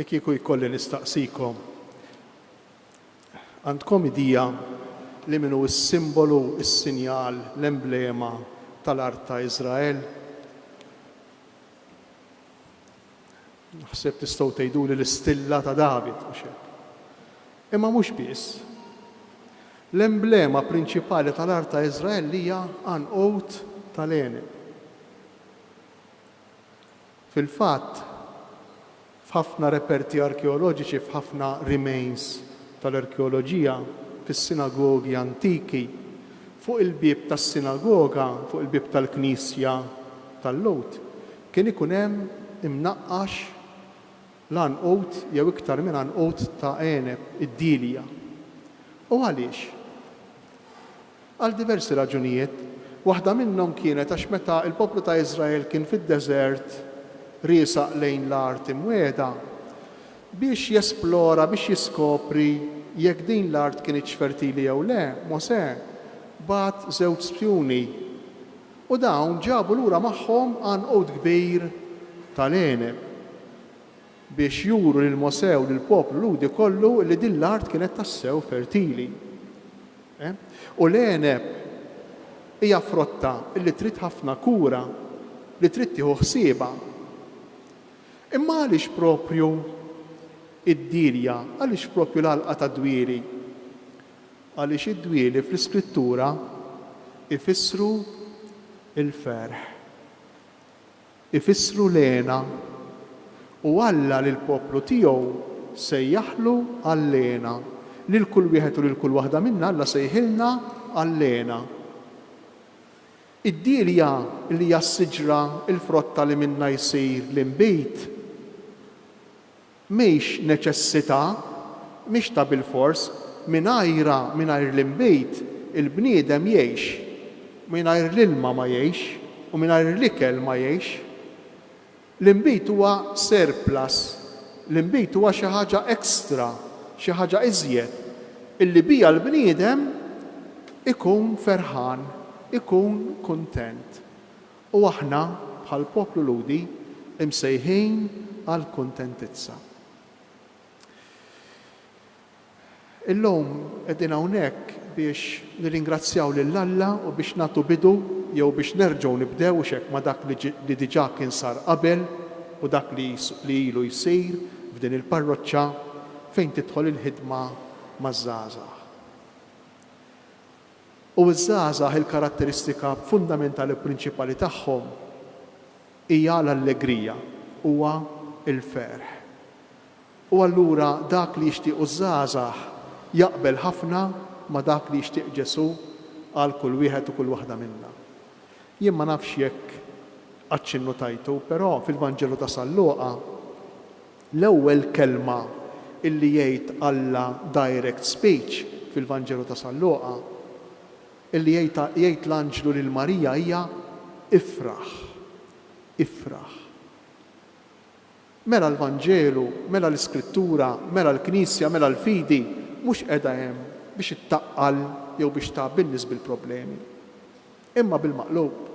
Li kieku jkolli nistaqsikom, għandkom idea li min hu s-simbolu, is-sinjal, l-emblema tal-art ta' Iżrael? Naħseb tistgħu tgħiduli l-istilla ta' David, mhux hekk? Imma mhux biss. L-emblema prinċipali tal-art ta' Iżrael hija għanqud ta' l-għeneb. Fil-fatt, f'ħafna reperti arkeoloġiċi, f'ħafna remains tal-arkeoloġija, fis-sinagogi antiki, fuq il-bieb tas-sinagoga, fuq il-bieb tal-knisja tal-Lhud, Kien ikun hemm imnaqqax l-għanqud jew iktar minn għanqud ta' għeneb, id-dielja. U għaliex? Għal diversi raġunijiet. Waħda minnhom kienet għax meta l-poplu ta' Iżrael kien fid-deżert riesaq lejn l-Art Imwiegħda biex jesplora, biex jiskopri jekk din l-art kinitx fertili jew le, Mosè bagħat żewġ spjuni. U dawn ġabu lura magħhom għanqud kbir tal-għeneb, biex juru lil Mosè u lill-poplu Lhudi kollu li din l-art kienet tassew fertili. E? U l-għeneb hija frotta li trid ħafna kura, li trid tieħu ħsiebha. Imma għaliex proprju d-dirja, għaliex proprju l-għalqa tad-dwieri? Għaliex id-dwieli fl-Iskrittura jfissru l-ferħ, ifissru l-hena, u Alla lill-poplu tiegħu sejjaħlu għall-hena. Lil kull wieħed u lil kull waħda minna Alla sejħilna għall-hena. Id-dielja li hija s-siġra, il-frotta li minnha jsir l-inbid, Mhix neċessità, mhix ta' bilfors, mingħajrha, mingħajr l-inbid, il-bniedem jgħix. Mingħajr l-ilma ma jgħix, u mingħajr l-ikel ma jgħix. L-inbid huwa surplus, l-inbid huwa xi ħaġa extra, xi ħaġa iżjed, illi biha l-bniedem ikun ferħan, ikun kuntent. U aħna, bħal poplu Lhudi, imsejħin għall-kuntentizza. Illum qegħdin hawnhekk biex nirringrazzjaw lil Alla u biex nagħtu bidu, jew biex nerġgħu nibdew, hux hekk, ma' dak li diġà kien sar qabel u dak li ilu jsir f'din il-parroċċa fejn tidħol il-ħidma maż-żgħażagħ. u ż-żgħażagħ il-karatteristika fundamentali u prinċipali tagħhom hija l-allegrija, huwa l-ferħ. U allura dak li jixtiequ ż-żgħażagħ jaqbel ħafna ma' dak li jixtieq Ġesù għal kull wieħed u kull waħda minna. Jien ma nafx jekk għadx innutajtu, però fil-Vanġelu ta' San Luqa, L-ewwel kelma illi jgħid Alla direct speech fil-Vanġelu ta' San Luqa, illi jgħid l-anġlu lil Marija hija ifraħ, ifraħ. Mela l-Vanġelu, mela l-Iskrittura, mela l-Knisja, mela l-fidi mhux qiegħda hemm biex ittaqqal jew biex tgħabbi n-nies bil-problemi, imma bil-maqlub.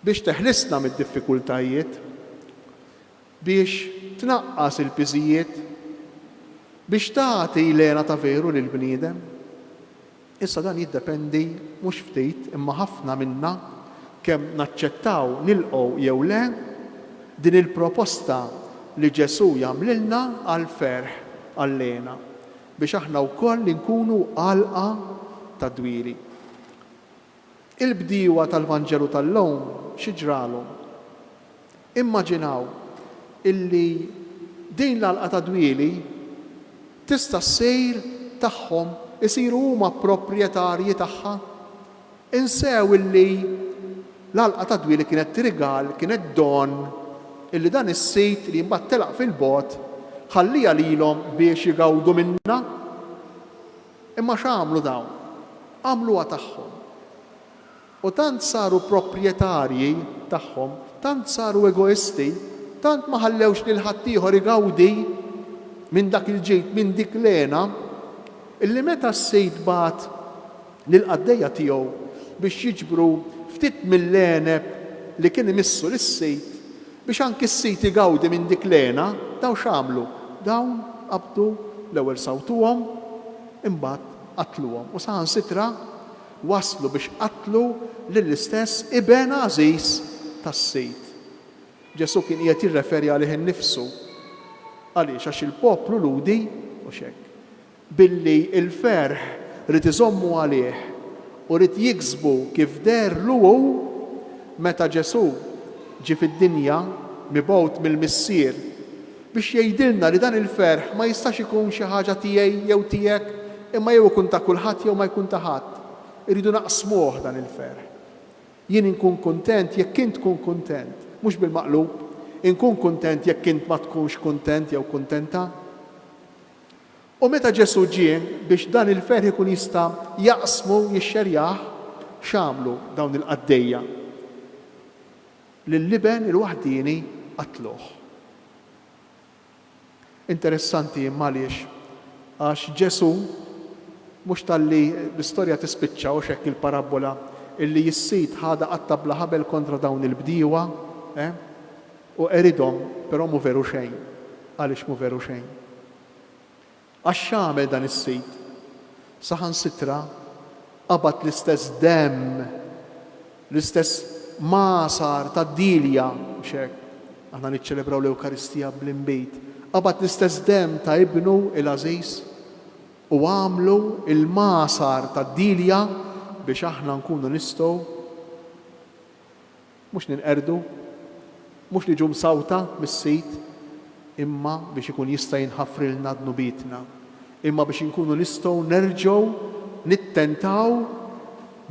Biex teħlisna mid-diffikultajiet. Biex tnaqqas il-piżijiet. Biex tagħti l-hena ta' veru lill-bniedem. Issa dan jiddependi mhux ftit imma ħafna minna kemm naċċettaw, nilqgħu jew le, din il-proposta li Ġesù jagħmlilna għall-ferħ, għall-hena, biex aħna wkoll inkunu għalqa tad-dwieli. Il-bdiewa tal-Vanġelu tal-lum xi ġralhom? Immaġinaw illi din l-għalqa ta' dwieli tista' ssir tagħhom, isiru huma proprjetarji tagħha. Insew illi l-għalqa ta' dwieli kienet rigal, kienet don illi dan is-sit li mbagħad telaq fil-bogħod ħallieha lilhom biex igawdu minnha. Imma x'għamlu dawn? Għamluha tagħhom. U tant saru proprjetarji tagħhom, tant saru egoisti, tant ma ħallewx lil ħaddieħor igawdi minn dak il-ġid, minn dik l-hena, illi meta s-sid bagħat lill-qaddejja tiegħu biex jiġbru ftit mill-għeneb li kien imissu lis-sid, Biex anki s-sit igawdi minn dik l-hena, dawn x'għamlu? Dawn qabdu, l-ewwel sawtuhom, imbagħad qatluhom u saħansitra waslu biex qatlu lill-istess iben għażiż tas-sid. Ġesù kien qiegħed jirreferi għalih innifsu. Għaliex? Għax il-poplu Lhudi mhux hekk. Billi l-ferħ ried iżommu għalih u ried jiksbu kif deherlu hu meta Ġesù ġie fid-dinja mibgħut mill-Missier biex jgħidilna li dan il-ferħ ma jistax ikun xi ħaġa tiegħi jew tiegħek imma jew ikun ta' kulħadd jew ma jkun ta' ħadd. Irridu naqsmuh dan il-ferħ. Jien inkun kuntent jekk int tkun kuntent, mhux bil-maqlub, inkun kuntent jekk int ma tkunx kuntent jew kuntenta. U meta Ġesù ġie biex dan il-ferħ ikun jista' jaqsmu u jixxerjah, x'għamlu dawn il-qaddejja? Lill-Iben il-waħdieni qatluh. Interessanti, imma għaliex? Għax Ġesù, mhux talli l-istorja tispiċċa, hux hekk il-parabbola, illi s-sid ħadha qatta' bla ħabel kontra dawn il-bdiewa, eh? U qeridhom, però mhu veru xejn. Għaliex mhu veru xejn? Għax x'għamel dan is-sid? Saħansitra qabad l-istess demm, l-istess magħsar tad-Dilja, mhux hekk? Aħna niċċelebraw l-Ewkaristija bl-inbid. Qabad l-istess demm ta' Ibnu l-għażiż u għamlu l-magħsar tad-Dilja biex aħna nkunu nistgħu, Mhux ninqerdu, mhux niġu msawta mis-sid, imma biex ikun jista' jinħafrilna dnubietna, imma biex inkunu nistgħu nerġgħu nittentaw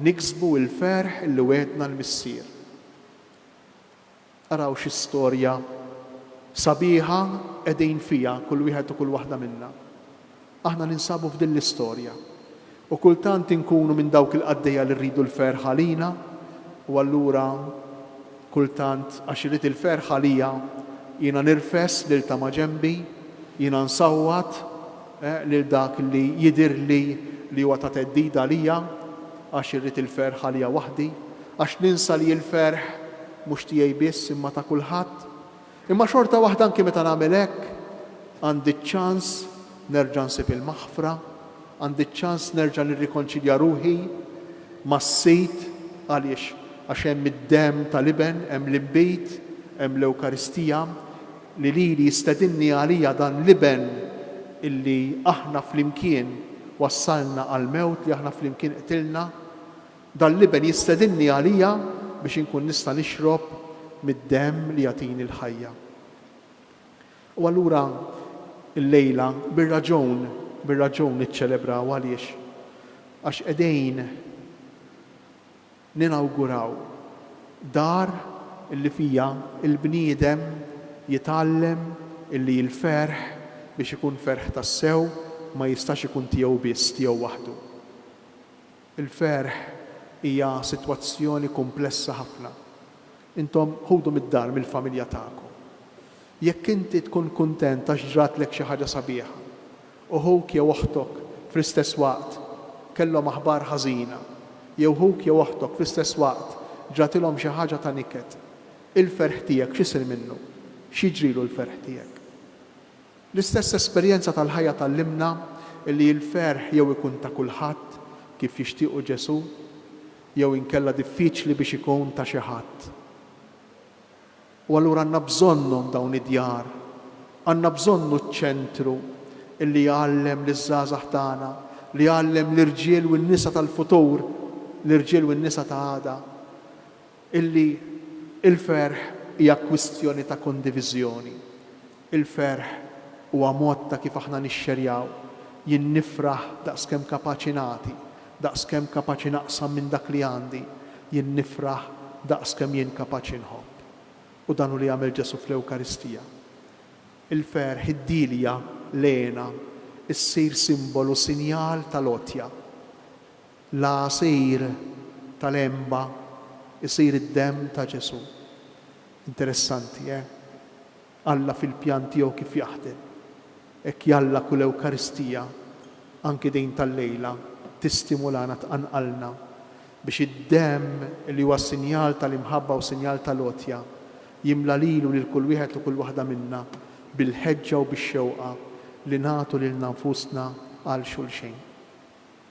niksbu l-ferħ li wegħedna l-Missier. Araw xi storja sabiħa qegħdin fiha kull wieħed u kull waħda minna. Aħna ninsabu f'din l-istorja. U kultant inkunu minn dawk il-qaddejja li rridu l-ferħ għalina, u allura kultant għax irrid il-ferħ għalija, jiena nirfes lil ta' maġenbi, jiena nsawwat lil dak li jidhirli li huwa ta' theddida għalija, għax irrid il-ferħ għalija waħdi, għax ninsa li l-ferħ mhux tiegħi biss imma ta' kulħadd. Imma xorta waħda anki meta nagħmel hekk, għandi ċ-ċans nerġa' nsib il-maħfra, għandi ċ-ċans nerġa' nirrikonċilja ruħi mas-Sid, għaliex? Għax hemm id-demm tal-Iben, hemm l-inbid, hemm l-Ewkaristija, li lili jistedinni għalija dan l-Iben illi aħna flimkien wassalna għall-mewt, li aħna flimkien qtilna. Dan l-Iben jistedinni għalija biex inkun nista' nixrob mid-demm li jagħtini l-ħajja. U allura llejla bir-raġun, bir-raġun niċċelebraw għaliex? Għax qegħdin ninawguraw dar li fiha l-bniedem jitgħallem li l-ferħ, biex ikun ferħ tassew, ma jistax ikun tiegħu biss, tiegħu waħdu. Il-ferħ hija sitwazzjoni kumplessa ħafna. Intom ħudu mid-dar, mill-familja tagħkom. Jekk inti tkun kuntent għax ġratlek xi ħaġa sabiħa, u ħuk jew oħtok fl-istess waqt kellhom aħbar ħażina, jew ħuk jew oħtok fl-istess waqt ġratilhom xi ħaġa ta' niket, il-ferħ tiegħek x'isir minnu? X'jiġrilu l-ferħ tiegħek? L-istess esperjenza tal-ħajja tgħallimna li l-ferħ jew ikun ta' kulħadd, kif jixtiequ Ġesù, jew inkella diffiċli biex ikun ta' xi ħadd. U allura għandna bżonnhom dawn id-djar. Għandna bżonnu ċ-ċentru li jgħallem liż-żgħażagħ tagħna, li jgħallem l-irġiel u n-nisa tal-futur, l-irġiel u n-nisa ta' għada, Illi l-ferħ hija kwistjoni ta' kondiviżjoni. Il-ferħ huwa mod ta' kif aħna nixxerjaw. Jien nifraħ daqs kemm kapaċi nagħti, daqs kemm kapaċi naqsam minn dak li għandi. Jien nifraħ daqs kemm jien kapaċi nħobb. U dan hu li għamel Ġesù fl-Ewkaristija. Il-ferħ, id-dielja, l-hena, issir simbolu, sinjal tal-għotja. L-għasir tal-għenba jsir id-demm ta' Ġesù. Interessanti, eh? Alla fil-pjan tiegħu kif jaħdem. Hekk jalla kull Ewkaristija, anki din tal-lejla, tistimulana, tqanqalna biex id-demm li huwa sinjal tal-imħabba u sinjal tal-għotja, jimla lili u lil kull wieħed u kull waħda minna bil-ħeġġa u bix-xewqa li nagħtu lilna nfusna għal xulxejn.